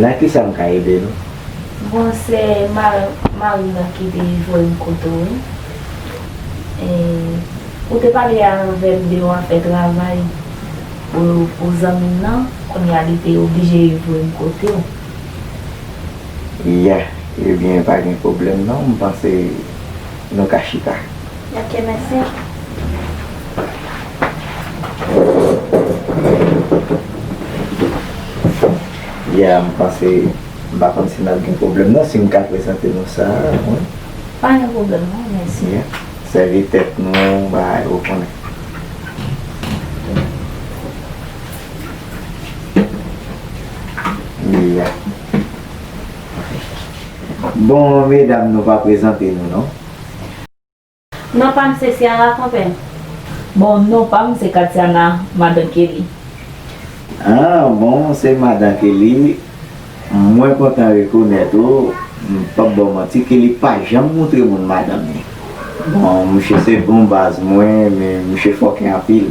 Nan kisa m ka ede nou? Bon se marim nan ki te voye m kote w wi. Ou te pale avè m de yon afè travay pou zanmi m nan, kounye a li te oblije voye m kote w. Ya, ebyen pa gen pwoblèm non m panse. Nou ka chita. Ok mèsi. Yeah m panse m pa konn si nap gen pwoblèm non si m ka prezante nou sa wi. Pa gen pwoblèm non mèsi. Yeah sèvi tèt nou bagay ou konnen. Yeah. Bon medam nou pa prezante nou non. Non pam se Ciara konpèm. Bon non pam se Katiana madan Kelly. Ah bon se madan Kelly mwen kontan rekonèt ou m pap baw manti Kelly pa janm moutre moun madanm li bon misye se bon baz mwen men misye fòkè anpil.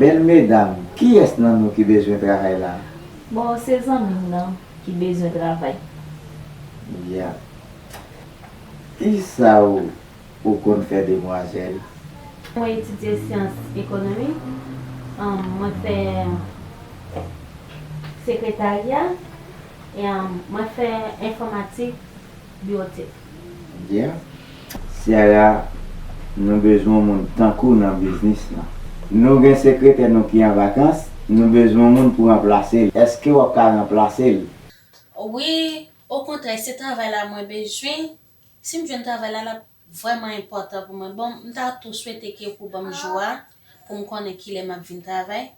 Bel medam kiyes nan nou ki bezwen travay la. Bon se zanmim nan ki bezwen travay. Yeah Kisa ou konn fè demwazel? Mwen etidye syans ekonomi um mwen fè sekretarya um mwen fè enfòmatik biotic. Bien. Ciara nou bezwen yon moun tankouw nan biznis lan. Nou gen sekretè nou ki an vakans, nou bezwen yon moun pou ranplase l. Eske wap ka ranplase l? Wi, okontrè se travay la mwen bezwen, si m jwenn travay la lap vrèman enpòtan pou mwen. Bon m ta tou swete ke pou banm jou a pou m konnen kilè map vin travay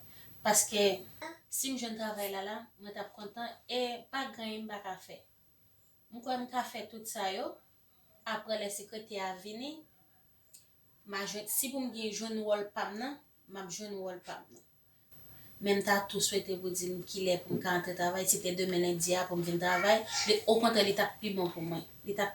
paske si m jwenn travay la la mwen tap kontan e pa gen anyen m paka fè. M kwè m ka fè tout sa yo. Aprè lè sekretè a vini, ma jwenn, si pou m gen jwenn wòl pa m nan, m ap jwenn wòl pa m nan. Men m ta tou swete pou di m ki lè pou m ka antre travay, si te demen lendi a pou m vin travay, li, okontrè li t ap pi bon pou mwen. Li t ap.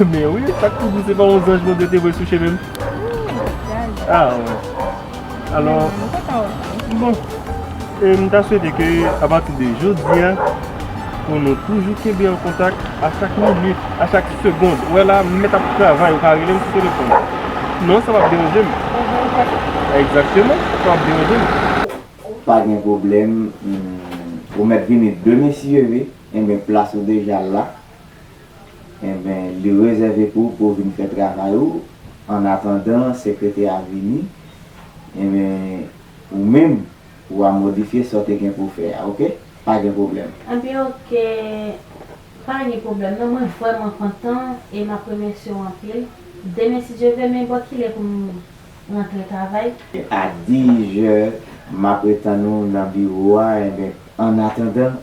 Men wi, sak tou di se pa yon zanj Bondye te voye sou chemen m? A wè. Alò, bon, m ta swete ke apati de jodi a pou nou toujou kenbe an kontak a chak minit, a chak segond. Ou wè la, m mèt ap travay, ou ka rele m sou telefòn. Non, sa pap deranje m. Egzakteman, sa pap deranje m. Pa gen pwoblèm. Ou mèt vini de mesye wi. Enben, plas ou deja la. Enben, li rezève pou ou pou ou vin fè travay ou annatandan sekretè a vini. Enben, ou menm, ou a modifye sa w te gen pou w fè a. Oke? Pa gen pwoblèm. Enben, oke. Pa gen pwoblèm non. Mwen vrèman kontan e m ap remèsye w anpil. Demen si Dye vle, men bò ki lè pou m rantre travay. A dizè, m apretann ou nan biwo a. Enben, annatandan.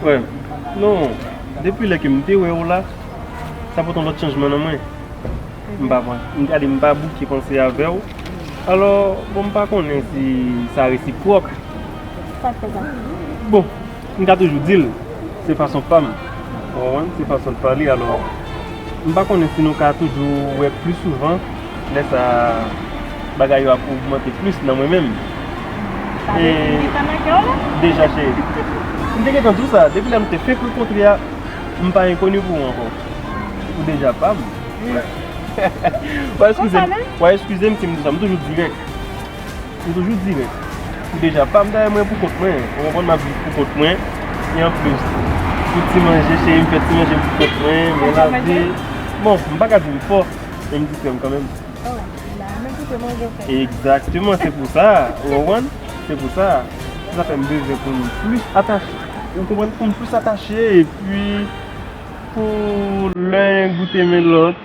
Frèm, non, depi lè ke m te wè ou la, sa pot yon lòt chanjman nan mwen. M pa bon, m gade m pa bouke panse avè ou. Alò, bon m pa konnen si sa resipròk. Sa k fè sa? Bon. M ka toujou di l, se fason pa m, ou konprann, se fason l pale. Alò, m pa konnen si nou ka toujou wè plis souvan, lè sa a, bagay yo ap ogmante plis nan mwen menm. Sa vle di m gentan nan kè w la? Deja, cheri. M te gentan di w sa, depi lè nou te fenk rankontre a, m pa enkoni pou ou ankò. Ou deja pa m. Wè! Wè! Wè eskize m si m di sa, m toujou dirèk. M toujou di nou, m deja pa m dèyè mwen pou kont mwen, ou konprann m ap viv pou kont mwen, e anplis pou ti manje cheri m fè ti manje m pou kont mwen, mwen lave, bon m pa ka di m fò men m di krèm kanmenm. Oh la a, men koute manje ou fè. Egzakteman, se pou sa, ou konprann, se pou sa, se sa fè m bezwen pou m plis atache, ou konprann, pou m plis atache, epi pou len goute men lòt.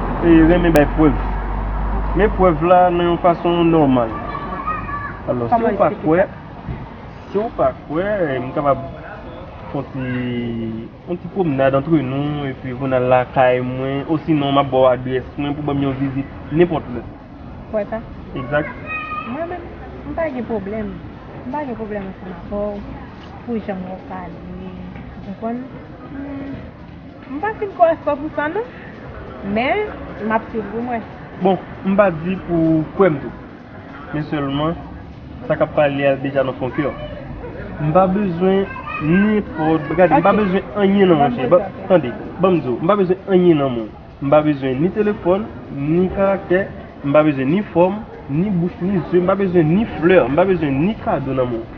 renmen bay prèv. Men prèv la nan yon fason nòmal. Alò, si ou pa kwè, si ou pa kwè, m kapab fè yon ti pwomenad antre nou, epi pou n al lakay mwen, osinon m ap ba w adrès mwen pou w ban m yon vizit nenpòt lè. Kwè sa? Egzat. Mwen menm, m pa gen pwoblèm. M pa gen pwoblèm ansanm avè w pou jan wap pale, ou konprann? M pa fin kwè 100 pou 100 non, men m ap swiv pou m wè. Bon, m pa di pou ou kwè m tou, men sèlman sa k ap pale a deja nan fon kè w. M pa bezwen nenpòt bagay, gade, m pa bezwen anyen nan ou, cheri, ban, tande, ban m di w, m pa bezwen anyen nan men w. M pa bezwen ni telefòn, ni karaktè, m pa bezwen ni fòm, ni bouch, ni zye, m pa bezwen ni flè, m pa bezwen ni kado nan men w.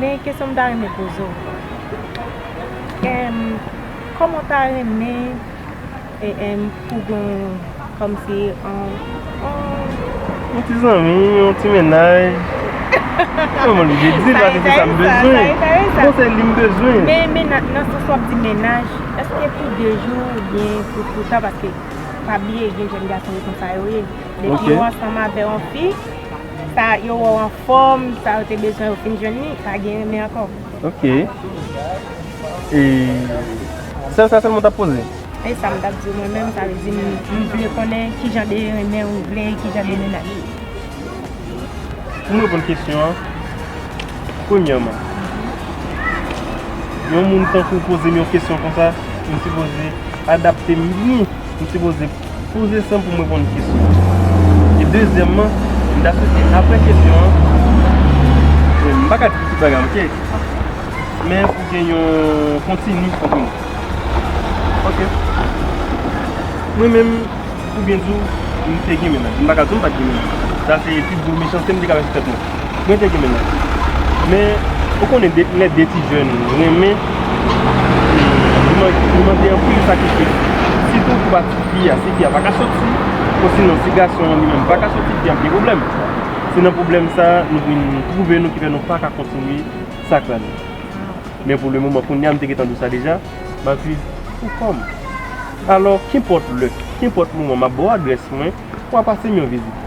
Men kesyon m ta renmen poze w lan, kòman w ta renmen pou gen yon kòmsi yon. Yon ti zanmi, yon ti mennaj. Mwen m oblije di l paske se sa m bezwen. Konsèy li m bezwen. Men nan sans w ap di mennaj, èske pou de jou ou byen pou sa paske pa bliye gen jèn gason yo konsa yo ye. Depi yo ansanm avè yon fi. Sa yo wè w anfòm, sa yo te bezwen yo fin jwenn li, pa gen renmen ankò. Ok. E Sè w sa sèlman w t ap poze? E sa m t ap di w mwen menm, sa vle di m vle konnen ki jan de renmen ou vle, ki jan de mennaj. Pou m reponn kesyon an, premyèman, yon moun tankou w poze m yon kesyon konsa, m sipoze adapte m byen, m sipoze. Poze san pou m reponn kesyon an. E dezyèmman, m ta swete apre kesyon an, bon m pa ka di tout bagay ok, men pou gen yon kontini antre nou. Ok. Mwen menm, pou byen di w, m te gen menaj. M pa ka di w m pa t gen menaj. Sa se pi gwo mechanste m te ka fè sou tèt mwen. Mwen te gen mennaj. Men, ou konnen lè 2 ti jèn renmen, li mande anpil sakrifis. Sitou pou pati fi a. Si fi a pa ka soti, osinon si gason an li menm pa ka soti, fi a ap gen pwoblèm. Se nan pwoblèm sa a nou vin twouve nou ki fè nou pa ka kontinye sa k la nou. Men pou le moman kounye a, m te gen tan di w sa deja, m ap viv pou kò m. Alò, kenpòt lè, kenpòt moman, m ap ba w adrès mwen, ou a pase m yon vizit.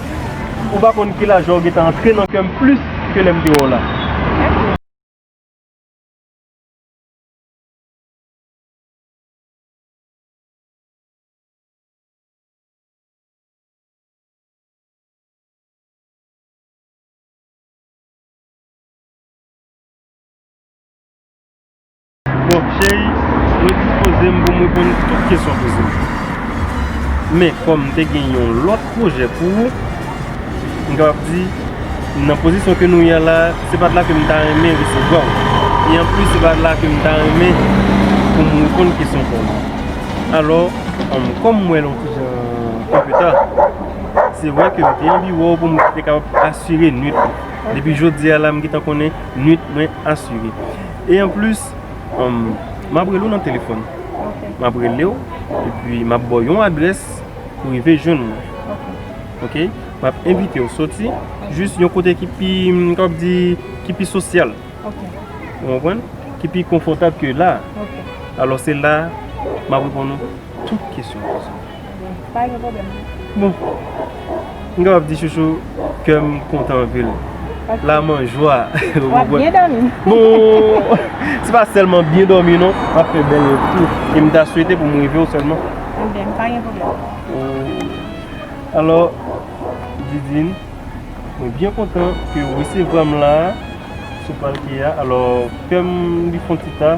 Ou pa konn ki la jwa ou gentan antre nan kèm plis ke lèm te wè w la. Bon cheri, mwen dispoze m pou m reponn tout kesyon w poze m. Men, kòm m te gen yon lòt pwojè pou ou, m kapab di, nan pozisyon ke nou ye la, se pa la ke m ta renmen resevwa w. E anplis, se pa la ke m ta renmen pou m reponn kesyon pa w. Alò, kòm m wè l yon ti jan anpe ta, se vre ke m te anvi wè w pou m te kapab asire nuit ou. Depi jodi a la, m gentan konnen nuit mwen asire. E an plis, m ap rele w nan telefòn. M ap rele w, epi m ap ba w yon adrès pou rive jwenn mwen. Ok? M ap envite w soti, jis yon kote ki pi, m kapab di, ki pi sosyal. Ok. Ou konprann? Ki pi konfòtab ke la a. Ok. Alò se la a, m ap reponn ou tout kesyon w poze m. Pa gen problem non. Bon. M kapab di chouchou kè m kontan anpil. La m an jwa. W ap byen dòmi. Bon. Se pa sèlman byen dòmi non. M ap fè bèl rèv tou. E m ta swete pou m rive w sèlman. Ebyen pa gen problem. Oh. Alò Didine, mwen byen kontan ke w resevwa m la a sou palke a. Alò pèm li fon ti ta.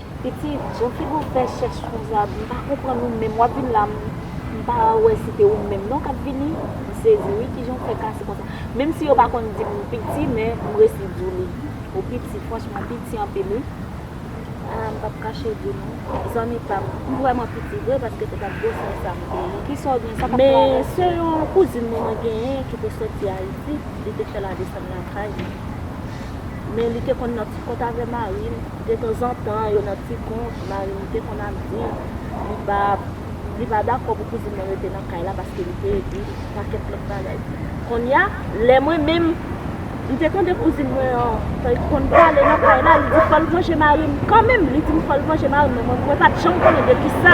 Pitit, bon kibo ou fè chèch konsa, m pa konprann ou menm, wap vin la m pa wè si te ou menm non kap vini, m sezi wi kijan ou fè kase konsa, menm si yo pa konn dim m piti men m resi di w li, ou piti franchman ou piti anpil wi. A m pap kache di w non zanmi pam, m vrèman piti vre paske se pat gwo sè sa m te gen, kisa w gen sa kap travay sou ou? Men se yon kouzin mwen mwen genyen ki te soti Ayiti, li te fè la desann lakay li, men li te konn nan ti kont avè mari l. Detanzantan yo nan ti kont, Marim te konn ap di li pa li pa dakò pou kouzin nan rete nan kay la paske li te ede l pakèt lòt bagay. Konnya, lè mwen menm m te tande kouzin mwen an konn pale nan kay la, li di fò l vanje Marim kanmenm, li di m fò l vanje Marim men mwen pa t janm konnen de ki sa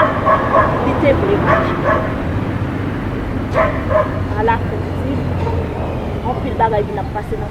li te vle vanje Marim. Ala kouzin, anpil bagay vin ap pase nan.